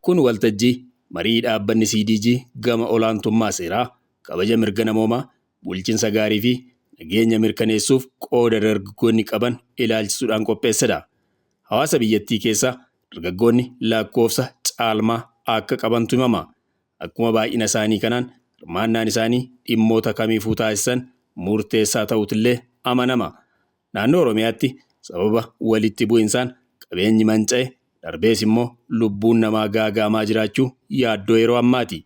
Kun waltajjii marii dhaabbanni CDG gama olaantummaa seeraa, kabaja mirga namoomaa, bulchinsa gaarii fi nageenya mirkaneessuuf qooda dargaggoonni qaban ilaalchisuudhaan qopheessedha. Hawaasa biyyattii keessa dargaggoonni lakkoofsa caalmaa akka qabantu himama. Akkuma baay'ina isaanii kanaan hirmaannaan isaanii dhimmoota kamiifuu taasisan murteessaa ta'uutillee amanama. Naannoo Oromiyaatti sababa walitti bu'insaan qabeenyi manca'e, darbees immoo lubbuun namaa gaaga'amaa jiraachuu yaaddoo yeroo ammaati.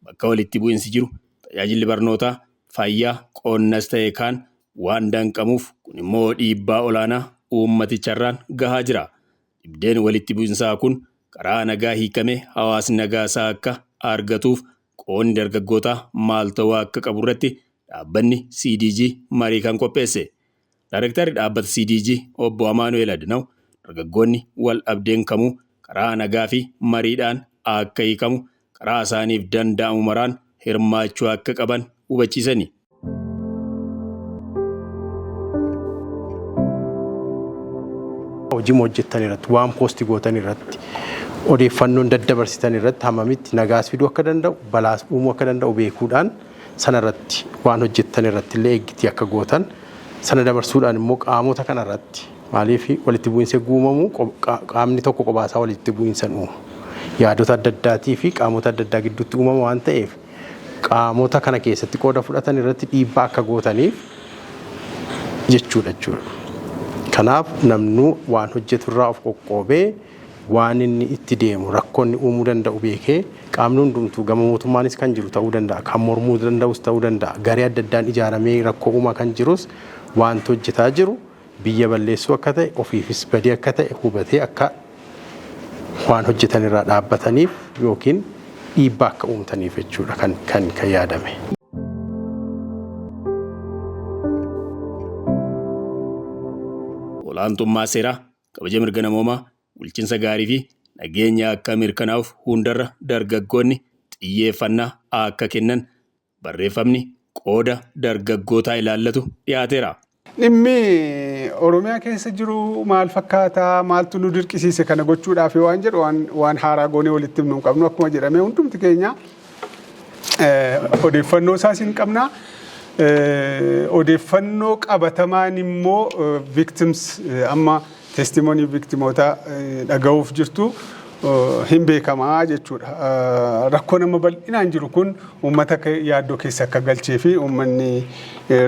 Bakka walitti bu'insi jiru tajaajilli barnootaa, fayyaa, qonnas ta'e kaan waan danqamuuf kun immoo dhiibbaa olaanaa uummaticharraan gahaa jira. Dhibdeen walitti bu'insaa kun karaa nagaa hiikamee hawaasni nagaa isaa akka argatuuf qoonni dargaggootaa maal ta'uu akka qabu irratti dhaabbanni CDG marii kan qopheesse. Daarektarri dhaabbata CDG obbo Amaanu'eel Adinaw dargaggoonni wal dhabdeen kamuu karaa nagaa fi mariidhaan akka hiikamu karaa isaaniif danda'amu maraan hirmaachuu akka qaban hubachiisani. hojii hojjettan irratti waan poosti gootan irratti odeeffannoon daddabarsitan irratti hammamitti nagaas fiduu akka danda'u balaas uumuu akka danda'u beekuudhaan sana irratti waan hojjettan irratti illee eeggitii akka gootan sana dabarsuudhaan immoo qaamota kana irratti Maaliif walitti bu'iinsi eeguu uumamu qaamni tokko qobaasaa walitti bu'iinsan uuma. Yaadota adda addaatii fi qaamota adda addaa gidduutti uumama waan ta'eef qaamota kana keessatti qooda fudhatan irratti dhiibbaa akka gootaniif jechuudha jechuudha. Kanaaf namnuu waan hojjetu irraa of qoqqoobee waan inni itti deemu rakkoonni uumuu danda'u beekee qaamni hundumtuu gama mootummaanis kan jiru ta'uu danda'a kan mormuu danda'us ta'uu danda'a garee adda addaan ijaaramee rakkoo uumaa kan jirus waanti hojjetaa jiru biyya balleessuu akka ta'e, ofiifis badii akka ta'e hubatee akka waan hojjetan irraa dhaabbataniif yookiin dhiibbaa akka uumtaniif jechuudha kan, kan, kan yaadame. olaantummaa seeraa, kabaja mirga namoomaa, bulchinsa gaarii fi nageenya akka mirkanaa'uuf hundarra dargaggoonni xiyyeeffannaa akka kennan Barreeffamni qooda dargaggootaa ilaallatu dhiyaateera. Dhimmi Oromiyaa keessa jiru maal fakkaata? Maaltu nu dirqisiise kana gochuudhaaf waan jedhu waan, waan haaraa goonee walitti himnu hin qabnu. Akkuma jedhame hundumti keenya eh, odeeffannoo isaas hin qabna. Eh, odeeffannoo qabatamaan immoo eh, victims eh, amma Testimony victimootaa dhaga'uuf jirtu hin beekamaa jechuudha. Rakkoo nama bal'inaan jiru kun uummata yaaddoo keessa akka galchee fi uummanni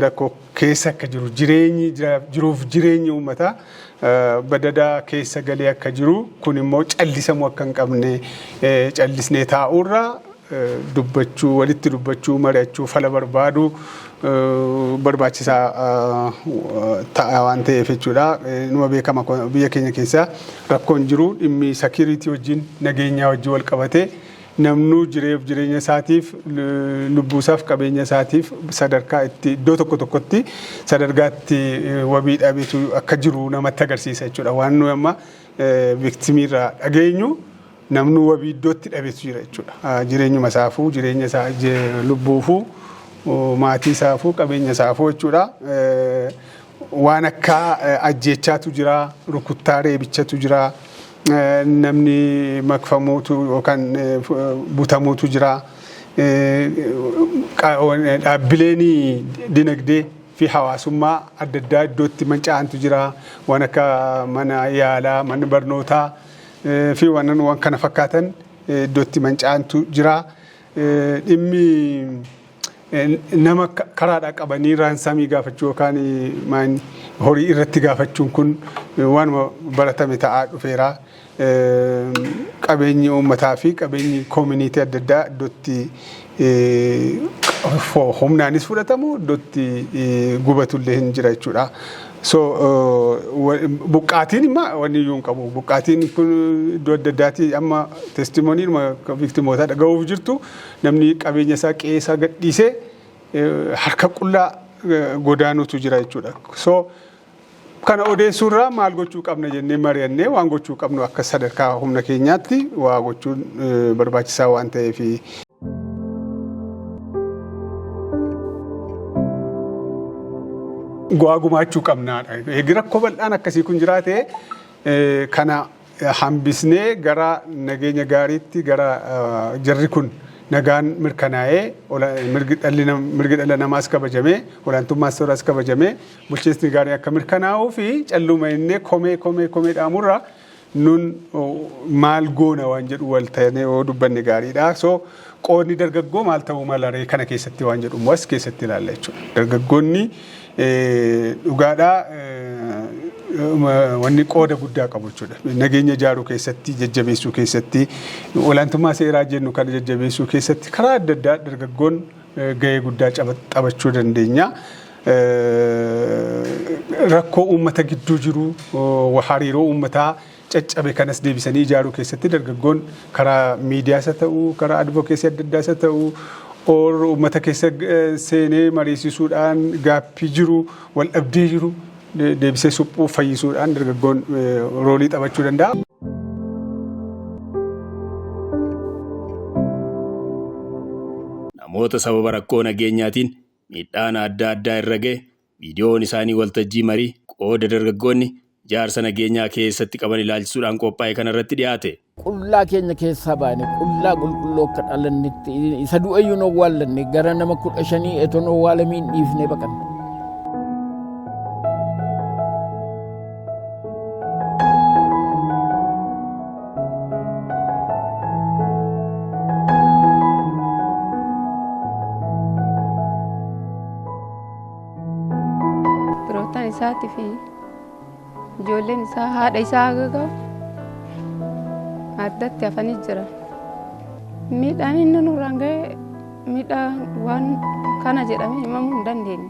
rakkoo keessa akka jiru jireenyi jiruuf jireenyi uummataa badadaa keessa galee akka jiru kun immoo callisamuu akka hin qabne callisnee taa'uurra dubbachuu, walitti dubbachuu, mari'achuu, fala barbaaduu barbaachisaa ta'a waan ta'eef jechuudha. Numa beekama biyya keenya keessaa rakkoon jiru dhimmi security wajjin nageenyaa wajjin wal qabatee namnuu jireef jireenya isaatiif lubbuusaaf qabeenya isaatiif sadarkaa itti iddoo tokko tokkotti sadargaatti wabii dhabetu akka jiru namatti agarsiisa jechuudha. Waan nuyi amma viktimiirraa dhageenyu Namnuu wabii iddootti dhabetu jira jechuudha. Jireenyuma isaafuu, jireenya isaa lubbuufuu, maatii isaafuu, qabeenya isaafuu jechuudha. Waan akka ajjeechaatu jira, rukuttaa reebichatu jira, namni makfamuutu yookaan butamuutu jira. Dhaabbileen dinagdee fi hawaasummaa adda addaa iddootti manca'antu jira. Waan akka mana yaalaa, mana barnootaa. fi wannan waan kana fakkaatan iddootti manca'antu jira. Dhimmi nama karaadhaa qabanii raansaamii gaafachuu yookaan maan horii irratti gaafachuun kun waanuma baratame ta'aa dhufeera. Qabeenyi uummataa fi qabeenyi koominiitii adda addaa iddootti humnaanis fudhatamu iddootti gubatullee hin jira jechuudha. So buqqaatiin imma wanni iyyuu hin qabu. Buqqaatiin kun iddoo adda addaati amma testimoniin viktimootaa dhaga'uuf jirtu namni qabeenya isaa qe'ee isaa gadhiisee harka qullaa godaanutu jira jechuudha. So kana odeessuu irraa maal gochuu qabna jennee mari'annee waan gochuu qabnu akka sadarkaa humna keenyaatti waa gochuun barbaachisaa waan ta'eefi. Go'aa gumaachuu qabnaadha. Eegi rakkoo bal'aan akkasii kun jiraate eh, kana hambisnee gara nageenya gaariitti gara eh, jarri kun nagaan mirkanaa'ee ola- mirgi dhalli nam- mirgi dhala namaas kabajamee olaantummaa seeraas kabajamee bulchiinsi gaarii akka mirkanaa'uu fi calluuma innee komee komee komee dhaamurra nun maal goona waan jedhu wal ta'anii yoo dubbanne gaariidha. So qoodni dargaggoo maal ta'uu mala ree kana keessatti waan jedhu immoo as keessatti ilaalla jechuudha. Dargaggoonni dhugaadhaa wanni qooda guddaa qabu jechuudha. Nageenya ijaaruu keessatti, jajjabeessuu keessatti, olaantummaa seeraa jennu kana jajjabeessuu keessatti karaa adda addaa dargaggoon gahee guddaa taphachuu dandeenya. rakkoo uummata gidduu jiru hariiroo uummataa caccabe kanas deebisanii ijaaruu keessatti dargaggoon karaa miidiyaas haa ta'u karaa advokeesii adda addaas haa ta'u or uummata keessa seenee mariisisuudhaan gaaffii jiru wal dhabdee jiru deebisee suphuu fayyisuudhaan dargaggoon roolii taphachuu danda'a. Namoota sababa rakkoo nageenyaatiin miidhaan adda addaa irra ga'e viidiyoon isaanii waltajjii marii qooda dargaggoonni ijaarsa nageenyaa keessatti qaban ilaalchisuudhaan qophaa'e kana irratti dhiyaate. Qullaa keenya keessaa baane, qullaa qulqulluu akka dhalannetti, isa du'e iyyuu hin owwaallanne, gara nama kudha shanii eton owwaalamiin dhiifnee baqanne. Firoottan isaatii fi ijoolleen isaa haadha isaa haga ga'u addatti hafanii jira. Miidhaan inni nurraan ga'e miidhaa waan kana jedhamee himamuu hin dandeenye.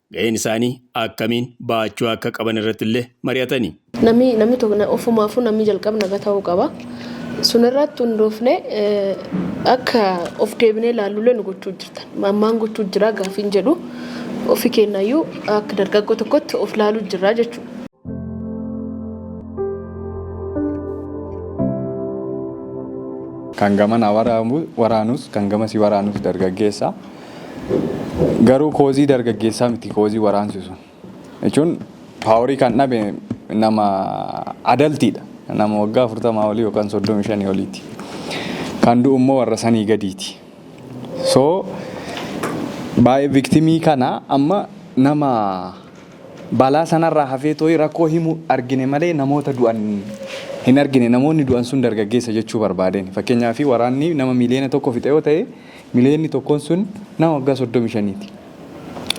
Gaheen isaanii akkamiin bahachuu akka qaban irratti illee mari'atani. Namni namni tokko ofumaafuu namni jalqaba naga ta'uu qaba. Sun irratti hundoofne akka of deebinee ilaallulee nu gochuu jirtan. Ammaan gochuu jira gaafiin jedhu ofi keenyayyuu akka dargaggoo tokkotti of ilaaluu jirra jechuudha. Kan gamana waraanus kan gamasii waraanus dargaggeessa. Garuu koozii dargaggeessaa miti koozii waraansi sun. Jechuun paaworii kan dhabe nama adaltiidha. Nama waggaa afurtamaa olii yookaan soddomii shanii oliiti. Kan du'u immoo warra sanii gadiiti. So baay'ee viktimii kana amma nama balaa sanarraa hafee tooyi rakkoo himu argine malee namoota du'an hin argine. Namoonni du'an sun dargaggeessa jechuu barbaadeen. Fakkeenyaaf waraanni nama miiliyoona tokko fixe yoo ta'e Miliyoonni tokkoon sun nama waggaa 35ti.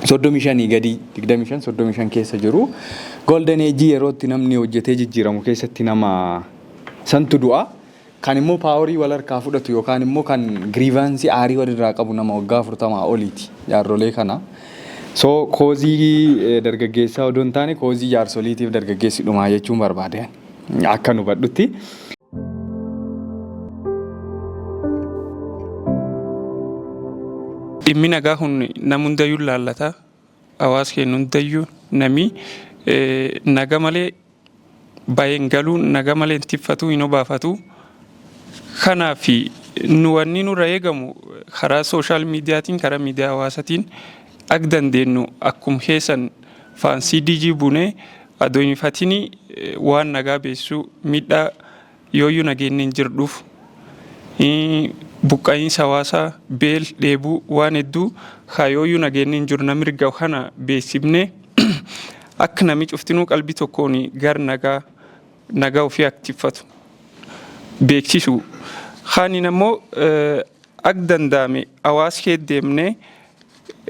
35 gadii 25 35 keessa jiru. Golden Age yerootti namni hojjetee jijjiiramu keessatti nama santu du'a. Kan immoo paaworii wal harkaa fudhatu yookaan immoo kan giriivaansii aarii walirraa qabu nama waggaa 40 oliiti jaarrolee kana. So koozii dargaggeessaa odoo hin taane koozii jaarsoliitiif dargaggeessi dhumaa jechuun barbaade. Akkan hubadhutti. Dhimmi nagaa kun nam hundayyuu hin laallata. Hawaasa keenya hundayyuu namni naga malee bahee hin galu, naga malee hin tiffatu, hin obaafatu. Kanaaf nu wanni nurra eegamu karaa sooshaal miidiyaatiin, karaa miidiyaa hawaasaatiin akka dandeenyu akkuma keessan Faansii DG Bunee ado hin hifatini waan nagaa beessuu miidhaa yooyyu nageenni hin jirdhuuf buqqa'iinsa hawaasaa beel dheebuu waan hedduu haa yooyyu nageenni hin jiru nami rigga kana beessifne akka nami cuftinuu qalbii tokkoon gar nagaa nagaa ofii akka tiffatu beeksisu kaaniin ammoo akka danda'ame hawaas kee deemnee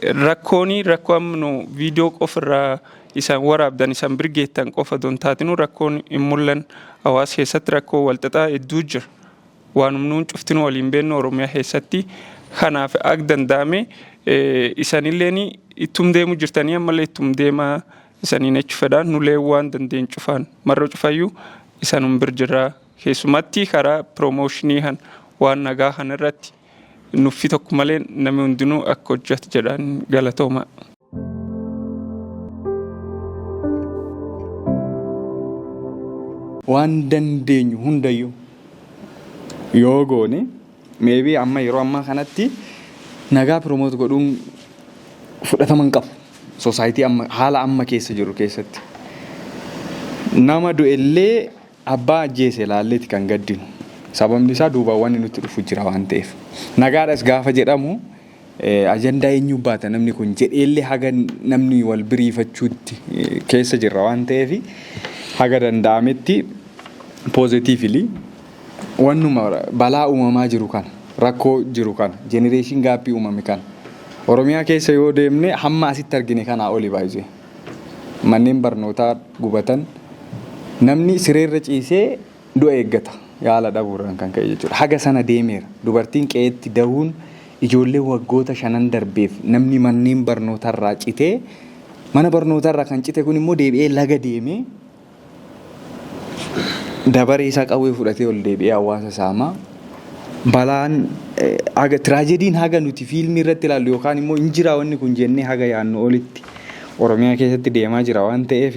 Rakkooni rakkoo amma nu viidiyoo qofa irraa isan waraabdan isan bir geettan qofa don taatinu rakkoon hin mul'an hawaasa keessatti rakkoo walxaxaa hedduu jira. Waanum nuun cuftinu waliin beennu Oromiyaa keessatti kanaaf ag danda'ame isanilleen ittum deemu jirtanii ammallee ittum deema isaniin jechu fedha nulee waan dandeen cufaan marro cufayyu isanum bir jirraa keessumatti karaa promooshinii kan waan nagaa kan irratti Nuffii tokko malee namni hundinuu akka hojjetu jedhaan galatooma. Waan dandeenyu hundayyuu yoo goone meebii amma yeroo ammaa kanatti nagaa piroomoot godhuun fudhatama hin qabu. Soosaayitii amma haala amma keessa jiru keessatti. Nama du'ellee Abbaa ajjeese ilaalleeti kan gaddinu. Sababni isaa duubaan wanni nutti dhufu jira waan ta'eef. Nagaadhas gaafa jedhamu ajandaa eenyuu baata namni kun jedheellee haga namni wal biriifachuutti keessa jirra waan ta'eef haga danda'ametti positively wannuma balaa uumamaa jiru kana rakkoo jiru kana generation gaappii uumame kana Oromiyaa keessa yoo deemne hamma asitti argine kanaa oli baay'ee. manneen barnootaa gubatan namni sireerra ciisee du'a eeggata yaala dhabuurraan kan ka'e jechuudha. Haga sana deemeera. Dubartiin qe'eetti dahuun ijoollee waggoota shanan darbeef namni manneen barnootarraa citee mana barnootarraa kan cite kun immoo deebi'ee laga deemee dabaree isaa qawwee fudhatee ol deebi'ee hawaasa saamaa balaan haga tiraajediin haga nuti fiilmii irratti ilaallu yookaan immoo hin jiraa wanni kun jennee haga yaannu olitti Oromiyaa keessatti deemaa jira waan ta'eef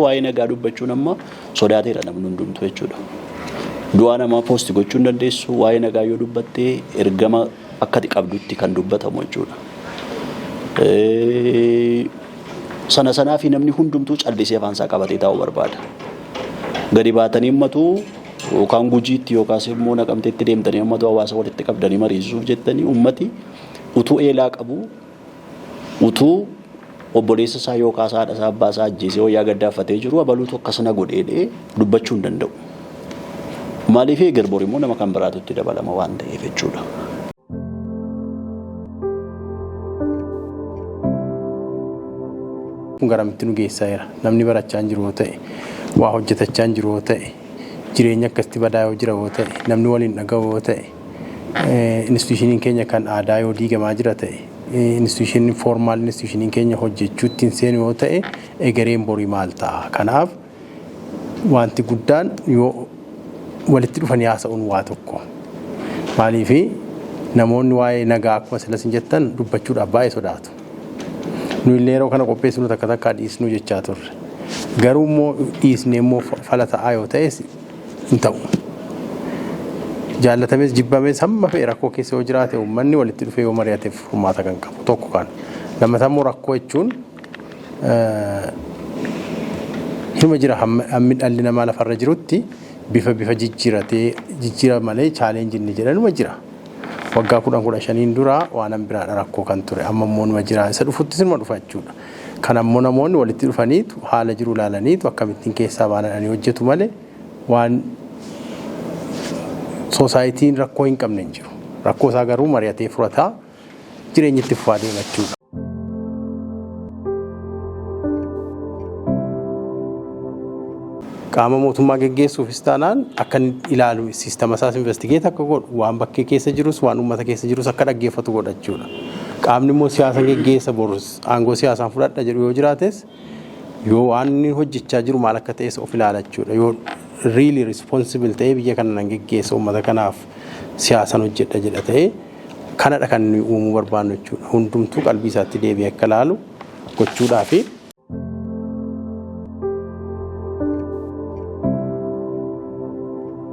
waa'ee nagaa dubbachuun amma sodaateera namni hundumtu jechuudha. Du'aa namaa poosti gochuu hin dandeessu waa'ee nagaa yoo dubbattee ergama akka ati qabdutti kan dubbatamu jechuudha. Eh, Sana sanaa fi namni hundumtuu callisee afaan isaa qabatee taa'uu barbaada. Gadi baatanii ummatu yookaan gujiitti yookaas immoo naqamteetti deemtanii ummatu hawaasa walitti qabdanii mariisisuuf jettanii ummati utuu eelaa qabu Utuu obboleessa isaa yookaas haadha isaa abbaa isaa ajjeesee wayyaa gaddaaffatee jiru abaluutu akkas na godhe jedhee dubbachuu hin danda'u. Maaliif eegar bor immoo nama kan biraatu itti dabalama waan ta'eef jechuudha. kun garamitti nu geessaa jira namni barachaa hin jiru yoo ta'e waa hojjetachaa hin jiru yoo ta'e jireenya akkasitti badaa yoo jira yoo ta'e namni waliin dhaga'u yoo ta'e Institushiniin keenya kan aadaa yoo diigamaa jira ta'e, institushiniin formaal institushiniin keenya hojjechuutti hin seenu yoo ta'e egereen borii maal ta'a? Kanaaf wanti guddaan yoo walitti dhufanii haasa'uun waa tokko. Maaliif namoonni waa'ee nagaa akkuma silas hin jettan dubbachuudhaaf baay'ee sodaatu. Nu illee yeroo kana qopheessinu takka takkaa dhiisnuu jechaa turre. Garuu immoo dhiisnee immoo fala ta'aa yoo ta'es hin ta'u. Jaallatames jibbames hamma fe'e rakkoo keessa yoo jiraate uummanni walitti dhufee yoo mari'ateef furmaata kan qabu tokko kan. Lammataa immoo rakkoo jechuun hima jira hammi dhalli namaa lafarra jirutti bifa bifa jijjiiratee jijjiira malee chaaleenji inni jedhanuma jira. Waggaa kudhan kudha shaniin dura waanan biraadha rakkoo kan ture amma immoo numa jira isa dhufuttis numa dhufa jechuudha. Kana immoo namoonni walitti dhufaniitu haala jiru ilaalaniitu akkamittiin keessaa baana jedhanii hojjetu malee waan soosaayitiin rakkoo hin qabne hin jiru. Rakkoo isaa garuu mari'atee furataa jireenyi itti fufaa deema jechuudha. Qaama mootummaa geggeessuufis taanaan akka inni ilaalu siistama isaas investigeet akka godhu waan bakkee keessa jirus waan uummata keessa jirus akka dhaggeeffatu godha jechuudha. Qaamni immoo siyaasa geggeessa borus aangoo siyaasaan fudhadha jedhu yoo jiraates yoo waan inni hojjechaa jiru maal akka ta'es of ilaalachuudha yoo really responsible ta'ee biyya kana nan geggeessa uummata kanaaf siyaasan hojjedha jedha ta'ee kanadha kan nuyi uumuu barbaannu jechuudha hundumtuu qalbii isaatti deebi'ee akka ilaalu gochuudhaafi.